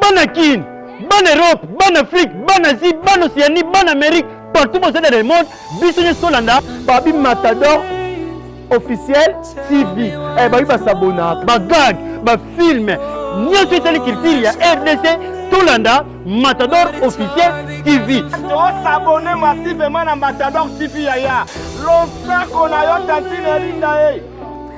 bana kin bana europe bana afrique bana asie bana océanie bana amérique partout boza dans le monde biso nyonso tolanda babi matador officiel tv eh, babi basabonaka bagag bafilme nyonso etali culture ya rdc tolanda matador officiel tv tosabone masivema na matador tv yaya losako na yo tantine elinda ye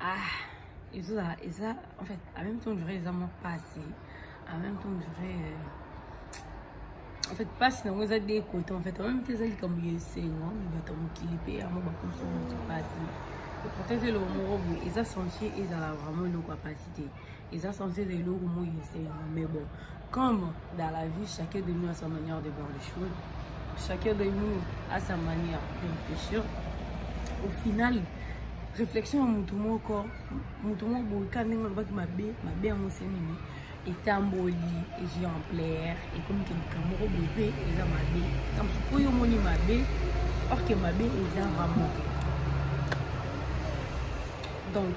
ah ezozala eza en fait en même temps jure eza mwa mpasi en même temps jure euh, en fait mpasi nango eza de côté en fait en même temps eza likambo ya esengo me bato ya mokili mpe yango bakomisa moto mpasi pourtant eza eloko moko boye eza sentie ezala vraiment eloko ya mpasi te eza sentie eza eloko moi esengo mais bon Comme dans la vie, chacun de nous a sa manière de voir les choses. Chacun de nous a sa manière de réfléchir. Au final, réflexion ya motu moko motu moko boyika ndenge olobaki mabe mabe yango se nini etamboli ejui en plaire ekomi ke likambo moko boye mpe eza mabe likambo soki oyo omoni mabe orke mabe eza vraiment donc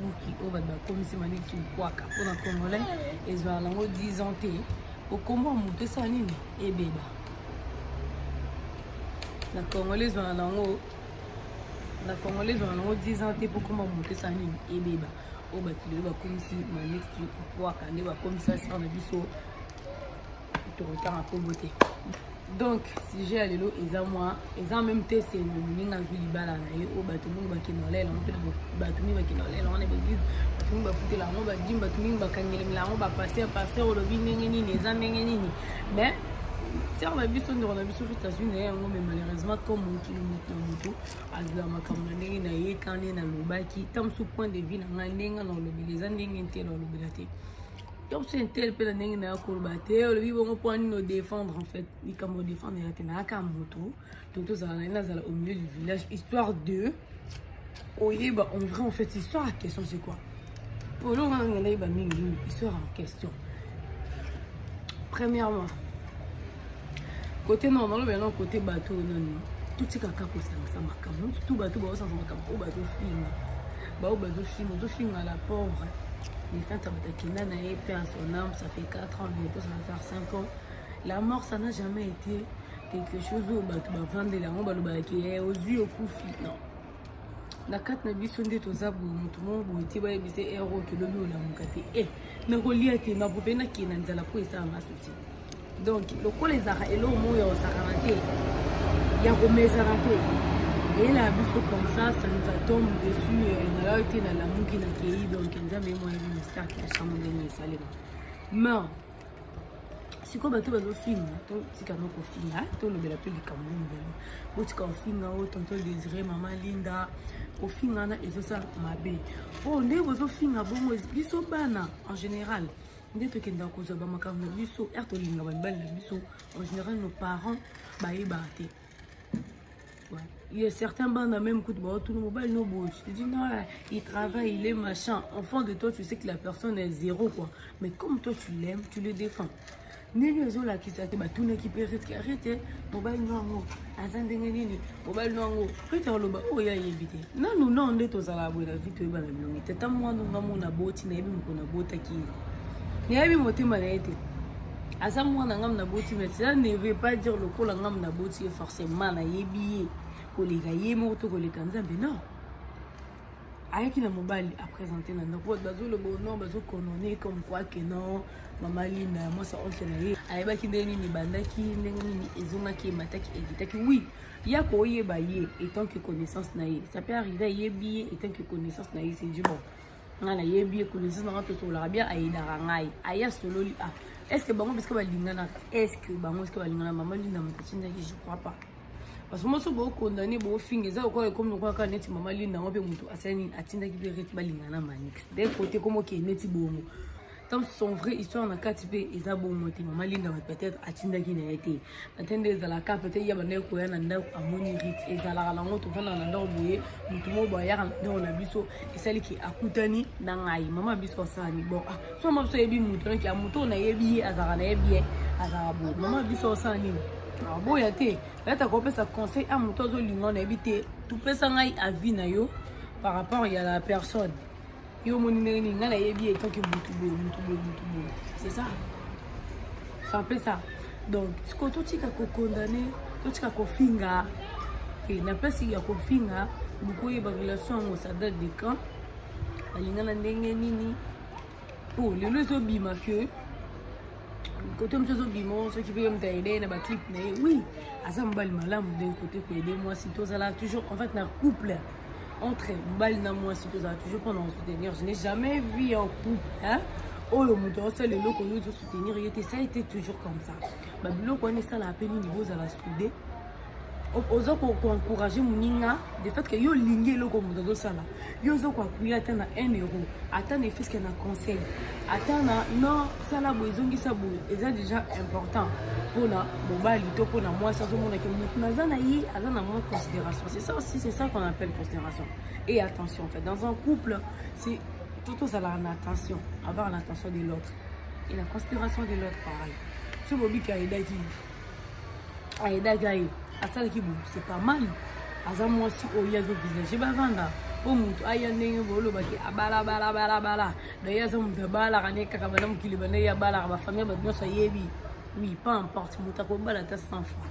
buki oyo bato bakomisi mani kimkwaka mpo na congolais ezwaka nango 10 ans te okombo ya moto esala nini ebeba na congolais ezwaka nango na congolais ezwaka nango 10 ans te mpo okombo ya moto esala nini ebeba oyo bato lelo bakomisi maniki kimkwaka nde bakomisa sar na biso tokotanga nkombo te donc sujet ya lelo eza mwa eza meme te esengo moninga azwi libala na ye oyo bato mingi bakenda kolela yango mpena bato mingi bakenda kolela yango na baeglise bato mingi bafutela yango badimi bato mingi bakangelemela yango bapaster paster olobi ndenge nini eza ndenge nini mais sere na biso ndeko na biso fete azwi na ye yango mais malheureusement comme mokili moto na moto azwila makambo na ndenge na ye kani nalobaki ta mosusu point de vue na ngai ndenge na olobela eza ndenge te na olobela te Top c'est un tel pela ndenge na koloba te olobi bongo mpo nini odefendre en fait likambo odefendre yake nayaka moto to tozala na ye nazala au milieu du village histoire de oyeba en vrai en fait histoire ya question c'est quoi mpo eloko wana nga nayeba mingi mingi histoire en question premièrement kote nao nalobela nao kote bato oyo nani totikaka kosangisa makambo tu bato baosangisa makambo oyo bazofinga baoyo bazofinga ozofinga la pauvre mais quand abata kenda na ye pe en son âme ça fait 4 ans bientôt ça va faire 5 ans la mort ça n'a jamais été quelque chose oyo bato bavandela yango balobaka ke eh, ozwi okufi non na kati na biso nde toza boye motu moko boye te bayebisa ero kilobi olamuka te e eh, nakolia te nakope nakende na nzala mpo esala nga susi donk lokola ezalaka eloko moko ya kosakana te ya komesana te eyela ya biso comme ça ça nous atombe dessus euh, nalaki te nalamuki na kei donk nzambe ye moyebi misaki ya chambre ndenge esalema ma sikoyo bato bazofinga totika no kofinga tolobela mpe likambo nini lelo botika kofinga o oh, tonto désiré mama linda kofinga wana ezosala mabe oyo oh, ndenge bozofinga bongo biso bana en général nde tokendaka kozwa bamakambo na biso r tolinga babali na biso en général nos parents bayebaka te Il y a certains bandes même coup de bord, tout le monde no beau. Tu te dis non, il travaille, il est machin. En fond de toi, tu sais que la personne est zéro quoi. Mais comme toi tu l'aimes, tu le défends. ndenge ezolakisa te batunaki mpe retke arete mobali no yango aza ndenge nini mobali no yango rete aloba oyo oh, ayebi te nanu no nde tozalaka boye na vi toyebana bilongi te ata mwana nga mo naboti nayebi moko nabotaki ye nayebi motema na ye te aza mwana ngam na boti mais cela ne veut pas dire lokola ngam na boti ye forcément nayebi ye koleka ye moko to koleka nzambe non ayaki na mobali apresente na ndako bato bazoloba no bazokonone comme quoi que non mama lina mwasa onse na ye ayebaki ndenge nini ebandaki ndenge nini ezongaki emataki ekitaki oui ya koyeba ye etant que connaissance na ye ça peut arrive ayebi ye etant que connaissance na ye c'est du bon nga nayebi ye connaissance nanga tosololaka bien ayedaka ngai aye asololi a ah, est ce que bango biske balinganaka est ce que bango biske balingana mama linda moto atindaki je crois pas parce que moso bookondane boofinga eza lokola ekomi lokola kaka neti mama linda yango mpe moto asali nini atindaki mpe reti balingana manix de kote komokee neti bongo donc son vrai histoire na kati mpe eza bongo te mama linda wa peut-être atindaki na ye te ate nde ezalaka peut-être ya bandaki koya na ndako amoni rite ezalaka nango tofandaka na ndako boye motu moko boye ayaka na ndako na biso esali ke akutani na ngai mama biso asalani bon ah, so mama biso ayebi motu noki ya motu oyo nayebi ye azalaka na ye bien azalaka boye mama biso osala nini aboya ah, te yata kopesa conseil a ah, motu azolinga nayebi te topesa ngai avis na yo par rapport ya la personne yo omoni ndenge nini ngai nayebi ye toke mutu boye mutu boye mutu boye c'est ça c'est un peu ça donc sikoyo totika kokondane totika kofinga te na place ya kofinga bokoyeba relation yango ça date de quand balingana ndenge nini po lelo ezobima que kote mosu ezobima soki mpe moto aide na baclip na ye oui aza mobali malamu d'un côté koyede mwasi tozala toujours en fait na couple entre mobali na mwasi tozala toujours mpona kosoutenir je n'ai jamais vu en couple hein? oyo moto aosala eloko oyo ozosoutenir ye te ça ete toujours comme ça babiloko wana esalaka mpe nini bozala soude oza koencourage moninga de fait que yo olingi eloko moto azosala yo oza koapuye ata na 1 euro ata na efiske na conseil ata na no sala boye ezongisa boye eza déjà important mpona mobali to mpona mwasi azomonake motu naza na ye aza na mwa considération c'est ça aussi c'est ça qu'on appelle considération et attention en fait dans un couple c'est tout ozalaka na attention avoir l'attention de l'autre et la considération de l'autre pareil soki bobika edaki ayedaki aye asalaki boye c'est pas mal aza mwasi oyo ye azovisage bavanda mpo motu aya ndenge bolobaki abalabalabalabala daye aza motu abalaka ne kaka banda mokili banda ye abalaka bafamille bato nyonso ayebi oui pas importe motu akobala ata 100 fois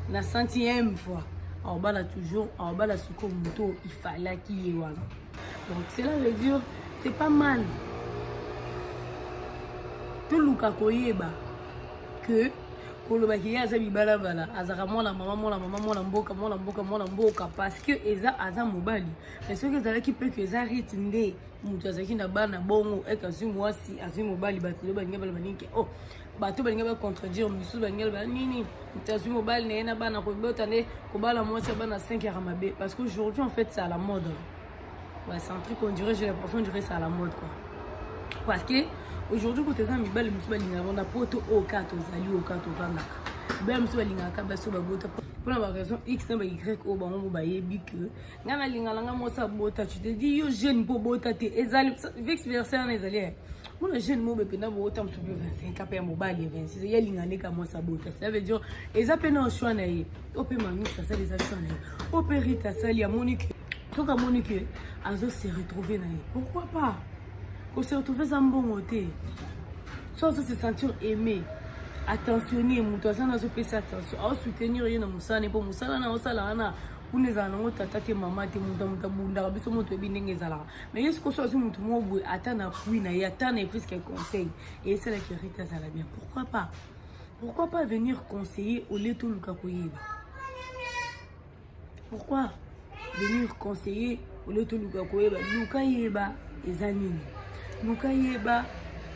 na centième fois aobala toujours aobala soko motu oyo ifalaki ye wana donc cela veut dire c'est pas mal toluka koyeba que koloba ke ye aza mibalabala azalaka mwana mama mwana mama mwana mboka mwana mboka mwana mboka parce que eza aza mobali mais soki ezalaki mpe ke eza rite nde moto azalaki na bana bongo ete azwi mwasi azwi mobali bato lelo balingi baloba nini ke oh bato balingi bacontredire mosusu balingi baloba nini moto azwi mobali na ye na bana kobota nde kobala mwasi ya bana 5 yaka mabe parce que aujourd'hui en fait c'est à la mode Ouais, c'est un truc on dirait, j'ai l'impression que c'est à la mode quoi. Parce que aujourd'hui quand eza mibali mosusu balingaka banda po to oyo kaka tozali oyo kaka tovandaka mibali mosusu balingaka kaka basi oyo babota mpo na baraison x na bay oyo bango mo bayebi ke ngai nalingala ngai mosa bota tu te dis yo jeune mpo bota te ezali vex verser wana ezali mona jeune mobe mpenza boota mosusu mpe 25 mpe ya mobali ya 26 ye alinga nde ka mwasi abota cela veut dire eza mpe na choix na ye oyo mpe manus asali eza choix na ye oyo mpe rite asali amoni ke soki amoni ke azo se retrouver na ye pourquoi pas ko se retrouver eza mbongo te so azo se sentir aimé attentionne moto aza na azopesa attention aosoutenir ye na mosala ne mpo mosala na osala wana kuna ezala nango tata te mama te moto ya moto abundaka biso moto oyebi ndenge ezalaka mais ye sikoso azwi motu moko boye ata na pui na ye ata na efiske conseil eyesalaki rite azala bien pourquoi pas pourquoi pas venir conseiller olie toluka koyeba pourquoi venir conseiller olie toluka koyeba luka yeba eza nini luka yeba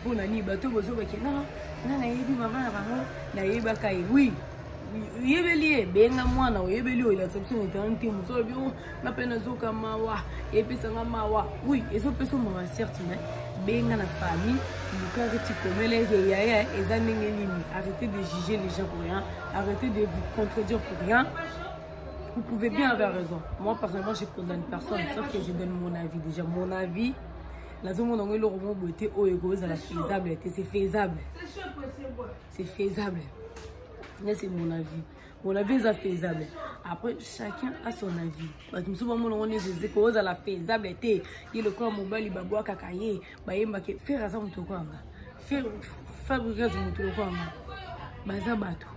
mpo na nini bato bozobake na nga nayebi mama na bango nayebaka ye wi oyebeli ye benga mwana oyebeli oyo elakisa biso na internet te moto olobi nga mpe nazoka mawa epesanga mawa wi ezopesa mawa certe mais benga na famille lukaki tikomele ete yaya eza ndenge nini arrêtez de juger les gens pour rien arrêtez de vous contredire pour rien vous pouvez bien avoir raison moi personnellement je condamne personne sauf que je donne mon avis déjà mon avis nazomona yango eloko moko boye te oyo ekozala faisable te c'est faisable c'est faisable nde c'est mon avis mon avis eza faisable après chacun a son avis bato mosusu bamona ngo neti eze kozala faisable te ye lokola mobali babwakaka ye bayembaka fere aza moto lokola nga fabrigas moto lokola nga baza bato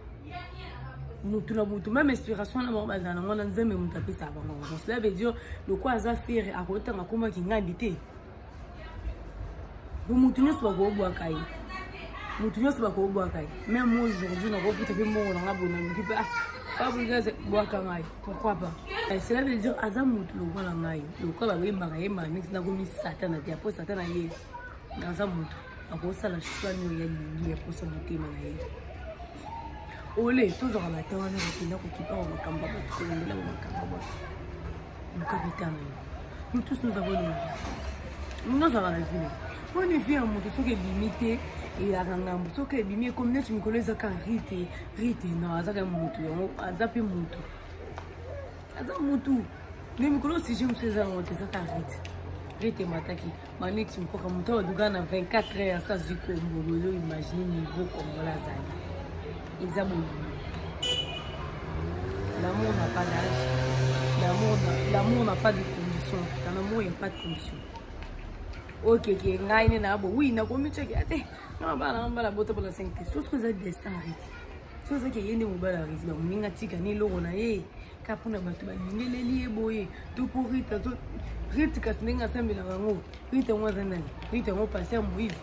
motu na motu meme inspiration na bango bazala nango na nzambe moto apesaka bango yango cela veut dire lokola aza fere akotanga komaki ngandi te motu nyonso bakobwaka ye motu nyonso bakobwaka ye meme aujourd'hui nakofuta mpe mbongo na nga boye naluki mpe fabrigaze bwaka ngai pourquoi pas eh, cela veut dire aza motu lokola ngai lokola bayembaka yembaka neti nakomi satana te apo satana ye aza motu akosala choix nio ya lingi ya posa motema na ye ole tozwaka bata wana bakenda kokipa wa makambo ya bato kolembela ba makambo ya bato luka beta na yo nous tous nous avons une vie nozala na vie oyo ni vie ya moto soki ebimi te eyaka ngambo soki ebimi ekomi neti mikolo eza ka rite rite no aza ka moto yango aza mpe moto aza motu me mikolo sujet mosusu eza yango te eza ka rite rite emataki Manick Mpoka moto oyo aduka na 24 heures azwi kombo lelo imagine niveau kongola azali eza bolingo l'amour na pas d'âge l'amour na pas de condition dans l'amour ya pas de condition okeke ngai nde naa bo wi nakomi ceke ate na bana na mbala bota bala 5 te sosi oza destin arrete soki ozaki eye nde mobali arrete bamoninga tika ni eloko na ye ka mpona bato balingeleli ye boye to mpo rita to rite kasi ndenge asambelaka yango rite yango aza nani rite yango pasi ya moise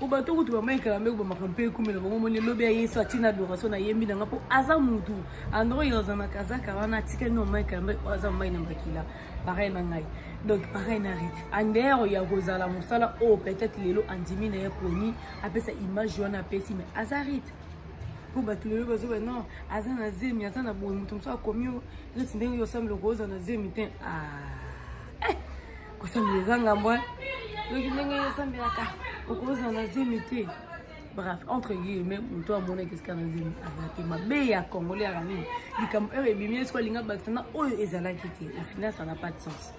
po bato kutu bamaikala mbe kobamaka mpe ekumela bango moni elobi ya yesu atina adoration nayembi nanga mpo aza mutu andro yoza na kazaka wana atikali na omaikala mbe aza mai na makila pareil na ngai donc pareil na rite andero ya kozala mosala oyo peut-être lelo andimi na ye poni apesa image wana apesi mais aza rite mpo bato lelo bazoba non aza na zemi aza na boye moto mosusu akomi yo neti ndenge yo osambela okoza na zemi te ah, eh, kosambela eza ngambo eh. yoki ndenge yo osambelaka okoza na zemi te bref entre guillemets moto amonaki esika na zemi aza te mabe ya congolais yaka nini likambo oyo ebimi esiko alinga bakisa na oyo ezalaki te au final ça n'a pas de sens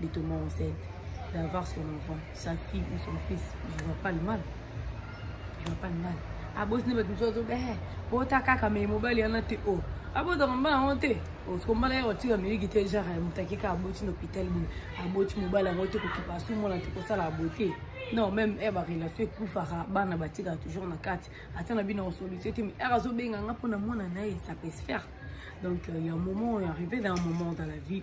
de tomber enceinte, d'avoir son enfant, sa fille ou son fils, je vois pas le mal. Je vois pas le mal. abosini bato mosusu azoba eh, bota kaka mai mobali yana te o oh. abotaka mbala yango te osiko oh, mbala yaka otika miliki te genre eh, moto akeka aboti na hôpital boye aboti mobali yango te kokipa asumona te kosala abote non même e eh, barelation ekufaka bana batikaka toujours na kati ata na bino osolution te mai ere azobenga nga mpo na mwana na ye sapesphère donc euh, ya moment oyo arrivé na un moment dans la vie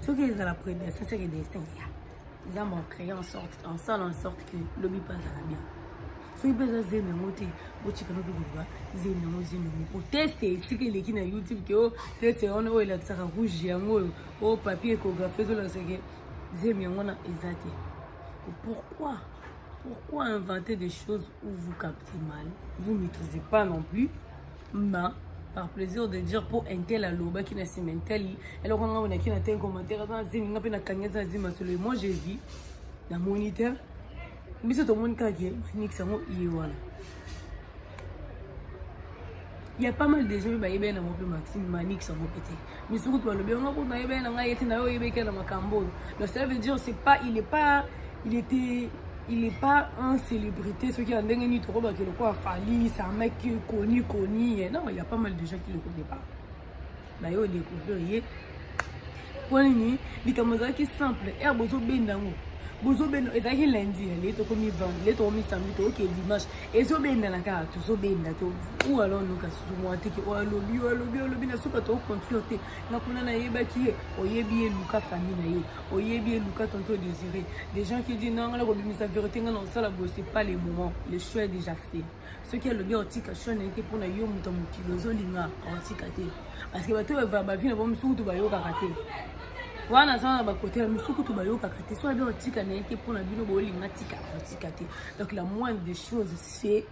soki ezala prédestin seke destin ya eza mo créer en sorte en sala en sorte que lobi mpe azala bien soki mpe eza zemi yango te botika noki koloba zemi yango zemi yango po teste esika eleki na youtube ke o oh, teste wana oyo elakisaka rouge yango oyo o oh, papier écographie ezolakisake zemi yango wana eza te pourquoi pourquoi inventer des choses où vous captez mal vous maîtrisez pas non plus ma par plaisir de dire mpo intel alobaki na nsima intel eloko ngai onaki na te commentaire aza na zemi ngai mpe nakangi aza na zemi masolo ye moi j'ai vu na moniteur biso tomoni kaka ke manix yango ye wana ya pas mal de gens mpe bayebani yango mpe maxime manix yango mpe te misusu kutu balobi yango kutu nayebani na ngai yete na yo oyebeki na makambo oyo donc cela veut dire c'est pas il est pas il était il est pas un célébrité soki ya ndenge nini tokobaki lokola fali c'est un mec connu connu non il y a pas mal de gens qui le connaît pas baye odécouvrir ye mpo nini likambo ezalaki simple ere bozobenda yango bozobenda ezalaki lundi ya leye tokomi vendre leye tokomi samedi tookee dimanche ezobendana kaka tozobenda to ou alors noka susu mwa teke oyo alobi oyo alobi olobi na suka tokocontrole te nga kuna nayebaki ye oyebi ye luka famille na ye oyebi ye luka tonto désiré des gens qui dit non nga nakobimisa vérité nga na kosala boye c'est pas le moment le choix est déjà fait soki alobi akotika choix na ye te mpo na yo moto ya mokili ozolinga akotika te parce que bato oyo bavi na bango mosusu kutu bayokaka te wana aza na bakote ya misusu kutu bayokaka te so abi akotika na ye te mpo na bino bolinga tika akotika te Donc la moindre des choses c'est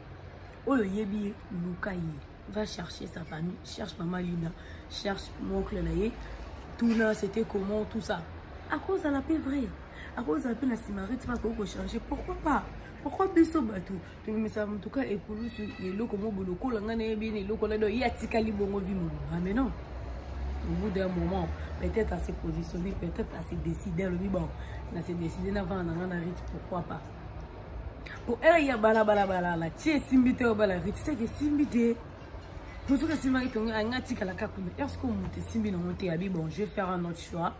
oyo oyebi ye luka ye va chercher sa famille cherche mama lina cherche moncle na ye tuna c'était comment tout ça akozala mpe vrai akozala mpe na simarite mpe akoki kochange pourquoi pas pourquoi biso bato tobimisa motuka ekulusu eloko mobo lokola ngai nayebi na eloko nado ye atikali bongo vi mobimba mais non au bout d'un moment peut-être à se positionner peut-être à se décider alobi bon na se décider navanda na ngai na rite pourquoi pas po ele ya bala bala bala la tie simbi te obala rite c'est que simbi te pour tout que simba ki tonga anga tika la kakuna est-ce que monte simbi na monte abi bon je vais faire un autre choix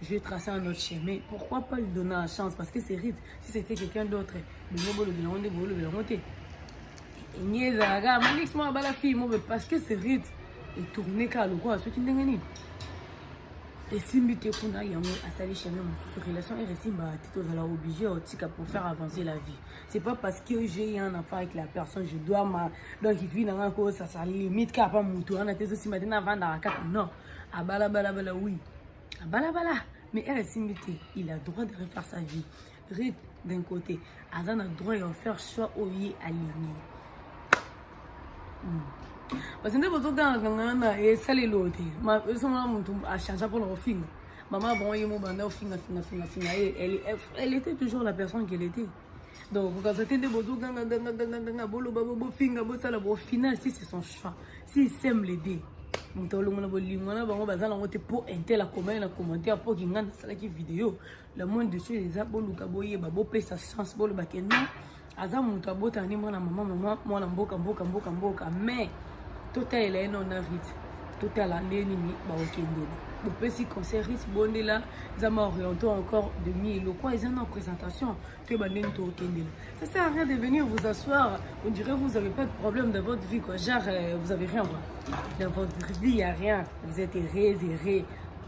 je vais tracer un autre chemin pourquoi pas lui donner la chance parce que c'est rite si c'était quelqu'un d'autre mais bon bolo bino onde bolo bino monte nyeza ga manix mo bala fille mo parce que c'est rite et tourner ka lokola soki ndenge nini esimbi te kuna yango asali chemin mosusu relation ere esimbaka te tozala obligé ya otika pour faire avancer la vie c'est pas parce que j'ai un enfant avec la personne je dois ma donc vie na ngai ko sasa limite kaka pa motu wana te ezosimba te navandaka kaka non abalabalabala oui abalabala mais ere esimbi te il a droit de refaire sa vie Rit d'un côté aza na droit ya faire choix oyo ye alingi hmm. parce nde bozoganga nganga na esalelo te esomona motu achange mpona kofinga mama bango ye mobanda ofinga finga finga finga ye elle était toujours la personne qu'elle était donc bokaza te nde bozoganga ganga ganga ganga boloba bofinga bosala bo final si c'est son choix si sème le deux moto alongola bolingo na bango baza nango te mpo intel akomani na commentaire mpo kinga nasalaki video le monde de choses eza boluka boyeba bopesa chance boloba ke non aza moto abotana nde mwana mama mama mwana mboka mboka mboka mboka mais totalela ye nona rite totala nde nini bakokendela bopesi conseil rite bondela eza ma oriente encore demi lokwa eza na présentation toyeba ndeni tokokendela ça sert à rien de venir vous asseoir on dirait vous avez pas de problème dans votre vie quoi genre euh, vous avez rien quoi dans votre vie y a rien vous êtes errés errés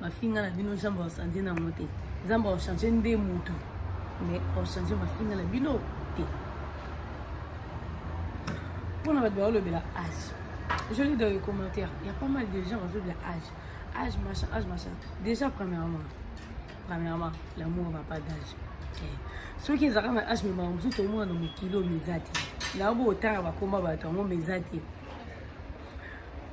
mafinga na bino jambe ochange nango te nzambe ochange nde motu mais ochange mafinga na bino te mpona bato baolobela age je lis dans les commentaires il y a pas mal de gens bazolobela age age machin age machin déjà premièrement premièrement l'amour va pas d'âge eh, soki ezalaka na age memaka mosusu tomona na mokili oyo meza te na obo otanga bakoma bato yango meza te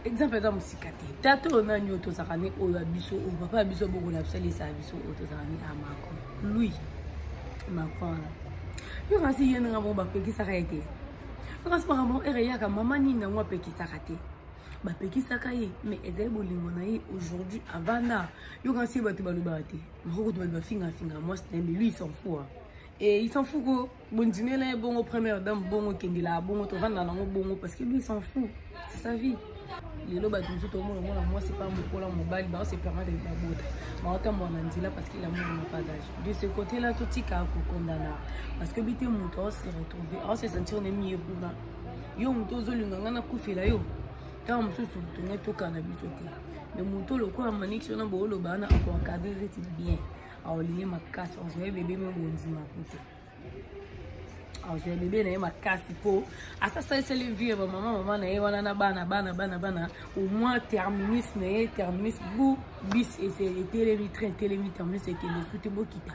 exemple eza mosika te tata oyo nani oyo tozalaka ne oyo ya biso oyo papa ya biso bokola bisalisa ya biso oyo tozalaka ne a ah, macron lui macron wana yo kasi ye ndenge bango bapekisaka ye te yo kasi makambo ere eyaka mama nini yango apekisaka te bapekisaka ye mais ezali bolingo na ye aujourd'hui avanda yo kasi bato balobaka te makokutu bato bafingafinga mwasi na ye mais lui il s'en fout e eh, il s'en fout ko bondimi na ye bongo première dame bongo kendela bongo tovanda nango bongo parce que lui s'en fou c'est sa vie lelo bato mosusu tomona omona mwasi pa mokola mobali bao se permettre babota baotambola na nzela parce qu'il amour na pas d'age de ce côté là totika kokondana parce que bite moto aose retrouve aose sentir ne miye kuna yo moto ozolinga ngai nakufela yo ntango mosusu tongai tokana biso te me moto lokola maniki wana booloba wana akoakadrere ti bien aolingi makasi ozwa ye bebe me bondima kutu azwa bebe na ye makasi mpo asasaliseli vie ya bamama mama na ye wana na bana bana bana bana au moins terminus na ye terminus bu bis etelemi train etelemi terminus ekende su te bokita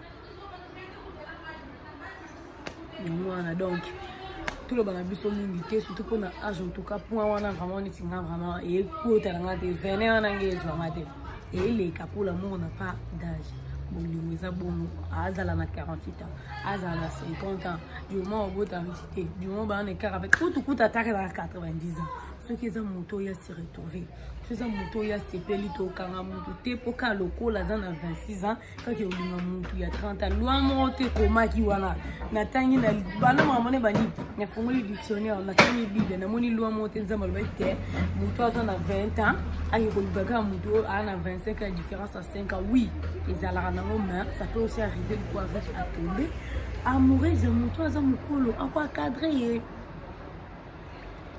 yango wana donc toloba na biso mingi te surtout mpona age en tout cas point wana vraiment neti nga vraiment ekotala nga te vene wana nge ezwanga te eleka pour l'amour na pas d'âge bolingo eza bongo azala na 48 ans azala na 50 ans du moment obota miti te du moment baa na ekara pe kutu kutu ataka na 90 ans soki eza moto oyo asi retrouve soki eza moto oyo asepeli tokanga motu te mpo kaka lokola aza na 26 ans kaka olinga mutu ya 30 ans loi moko te ekomaki wana natangi na bana mamone bani nafungoli dictionnaire natangi bible namoni loi moko te nzambe alobaki te motu aza na 20 ans ake koluka kaka motu oyo aa na 25 ans différence ya 5 ans oui ezalaka nango main ça peut aussi arriver loko avec atombe amoureuse ya motu aza mokolo ako akadre ye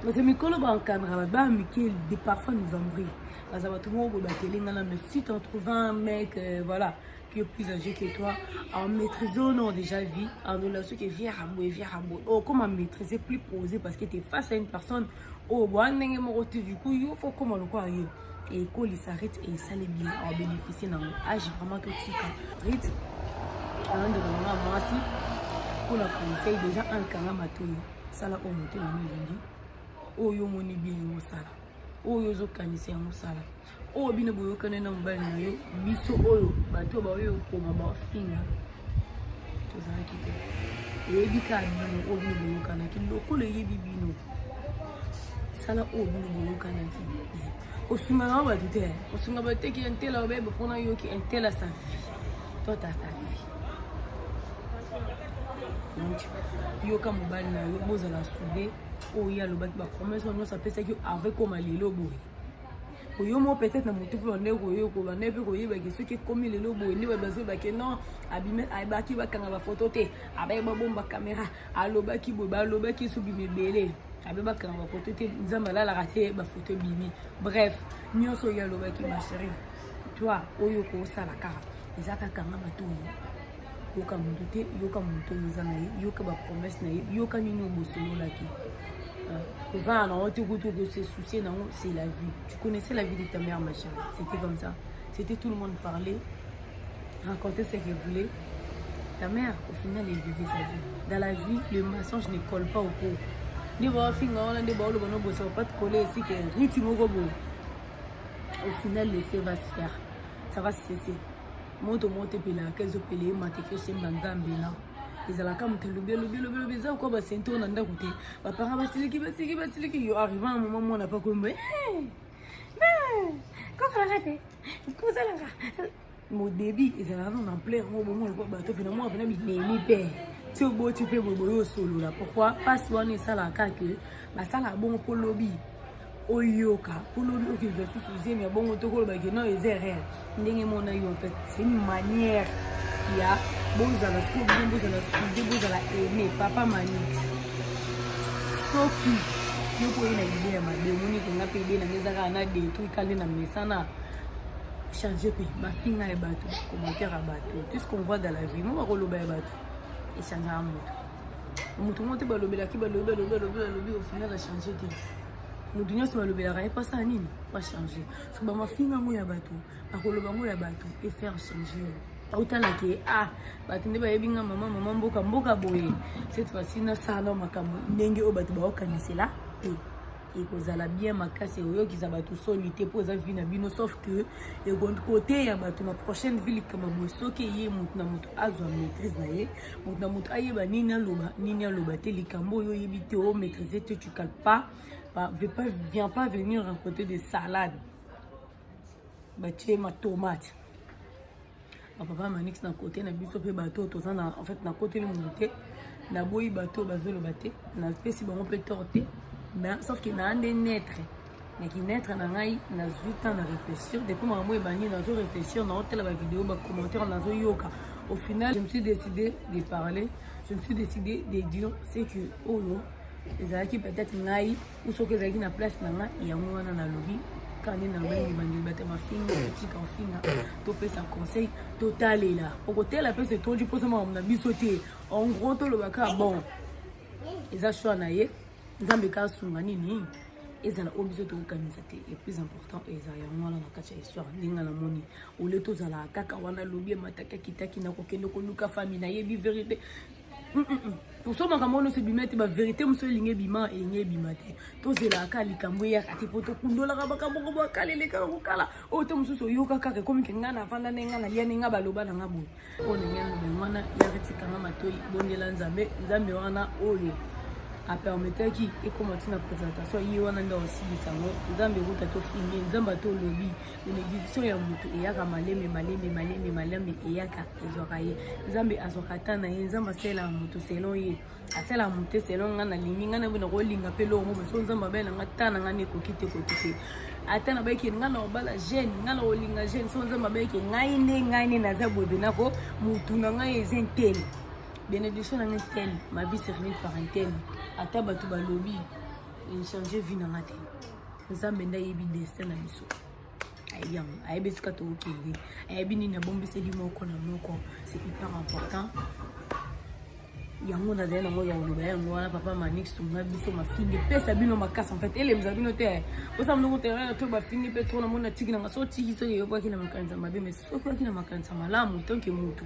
bato mikolo baencadra bato bana mike de parfois nous embrie baza bato moko boye bateli nga nano si t'en trouve un mec euh, voilà qui est plus âgé que toi en maîtrise o non déjà vie en relation que vie arabo et vie arabo oh comment maîtriser plus posé parce que t'es face à une personne oyo oh, boa ndenge moko te du coup yo fo koma lokola yo ekolisa rite esali bien abénéficie nango age vraiment totika rite alandela nanga mwasi mpona conseil déjà ankanga matoyi sala oyo motema no elingi oyo omoni bien yango sala oyo ozokanisa yango sala oyo bino boyokani na mobali na yo biso oyo bato baoyo okoma bafinga tozalaki te eyebi ka bino oyo bino boyokanaki lokola eyebi bino sala oyo bino boyokanaki osungaka bato te osunga bato te ki entela obebe mpona yoki entela sa vie to tata vie yoka mobali na yo bozala soude oyo ye alobaki bapromese wana nyonso apesaki yo avec koma lelo boye oyo mo peut-être na motu mpe bande koyo kobanda mpe koyebaki soki ekomi lelo boye nde babazo bake non abime abaki bakanga bafoto te abaye babomba kamera alobaki boye balobaki so bima ebele abe bakanga bafoto te nzambe alalaka te bafoto ebimi bref nyonso oyo alobaki ma chérie toi oyo okosala kaka eza kakanga matoyi yoka moto te yoka moto oza na ye yoka bapromese na ye yoka nini obosololaki kovanda nango te kutu okose soucie nango c'est la vie tu connaissais la vie de ta mère ma chérie c'était comme ça c'était tout le monde parlait raconter ce qu'elle voulait ta mère au final elle vivait sa vie dans la vie le mensonge ne colle pas au pot nde baofinga wana nde baoloba nobosaka pas te coller esike riti moko boye au final l'effet va se faire ça va se cesser moto moko te epelaka ezopele ye mata eke osemba nzambe na ezalaka moto elobi elobi elobi elobi eza okoa basento na ndako te bapara basiliki basiliki basiliki yo arriva na moma mwana pa koyemba kokolaka te kosalaka modebi ezalaka no na ampleur ngo bomo lokola bato mpe na mwa mpena bimemi mpe ti oboti mpe boboye osolola pourkoi mpasi wana esalaka ke basalaka bongo mpo lobi oyoka kolobi okiliza susu zemi ya bongo to koloba ke non eza erreur ndenge mona yo en fait c'est une manière ya bozala sikoyo bino bozala sude bozala aime papa manix soki yo koye na ide ya mabe omoni ke nga mpe ide nanga eza kaka na detruit kale na mesana change mpe bafinga ya bato commentaire ya bato tout ce qu'on voit dans la vie mo bakoloba ya bato echangaka moto moto moko te balobelaki balobi balobi balobi balobi ofina na change te moto nyonso balobelaka ye pasala nini pa changer so bamafinga yango ya bato akoloba yango ya bato efaire changer autala ke ah bato nde bayebi nga mama mama mboka mboka boye cette fois-ci nasala makambo ndenge oyo bato baokanisela te ekozala bien makasi ekoyokisa bato soni te mpo eza vi na bino sauf que ekoteya bato na prochaine vie likama boye soki eye moto na moto azwa maîtrise na ye moto na moto ayeba nini aloba nini aloba te likambo oyo oyebi te o maîtrise te Pas, pas, viens pas venir raconter des salades. Bah, tu es ma tomate. Ah, papa Manix na côté na biso pe bateau toza na en fait na côté le monde te na boyi bateau bazolo bate na pesi bango pe torte mais sauf que na ande naître na kinetre na ngai nazwi temps na réfléchir depuis makambo ebandi nazo réfléchir naotala bavideo bacommentaire nazoyoka au final je me suis décidé de parler je me suis décidé de dire ce que oyo ezalaki peut-être ngai ou soki ezalaki na place na ngai yango wana nalobi kani na ngai ebandeli bata mafinga kotika ofinga topesa conseil totalela okotela mpe setondi mposa makambo na biso te en gros tolobaka bon eza choix na ye nzambe ka asunga nini ezala oyo biso tokokanisa te le plus important eza yango wana na kati ya histoire ndenge namoni ole tozalaka kaka wana lobi emataki akitaki na kokende koluka fami nayebi verité mm, mm, mm. toso makambo nyonso ebima ete baverité mosusu elingi ebima elingi ebima te tozelaka kaka likambo eyaka te mpo tokundolaka makambo ngo boakalelekaka kokala oyo te mosusu oyoka kaka ekomi ke ngai navanda nde ngai nalia nde ngai baloba na ngai boye oyo ndenge yango wana yaka etikanga matoi bondela nzambe nzambe wana oyo apermetaki ekoma ntina présentation ye wana nde aosilisa yango nzambe ekuta tofini nzambe ata olobi benediction ya moto eyaka malembe malembe malembe malembe eyaka ezwaka ye nzambe azwaka ata na ye nzambe asalela moto selon ye asala mote selo ngai nalingi ngai naboyi nakolinga mpe eloko moko so nzambe abali na ngai ta na ngai nde ekoki te ekoki te ata nabayeke ngai na kobala jeune ngai na kolinga jeune so nzambe abayeke ngai nde ngai nde naza boye benako motu na ngai eza ntele benediction na ngai ntele ma vie servile par ntele ata bato balobi echange vie na ngai te nzambe nde ayebi destin na biso yango ayebi esika tokokende ayebi nini abombiseli moko na moko c'est hyper important yango nazali nango ya koloba yango wana papa manik sunga biso mafingi pesa bino makasi enfait elemisa bino te osa mnoko terrain to bafingi mpe tro namoni natiki nanga so otiki soki eyobwaki na makanisa mabe mai soki oyaki na makanisa malamu tanke motu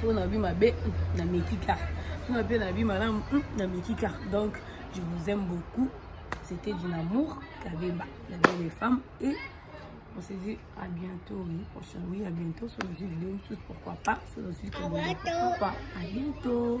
soki nalobi mabe hmm, na meki kaka soki nape nalobi malamu hmm, na meki kaka donc je vous aime beaucoup c'était du amour kabemba la belle femme et on se dit à bientôt oui prochain oui à bientôt sur le vidéo tous pourquoi pas sur le site pourquoi pas à bientôt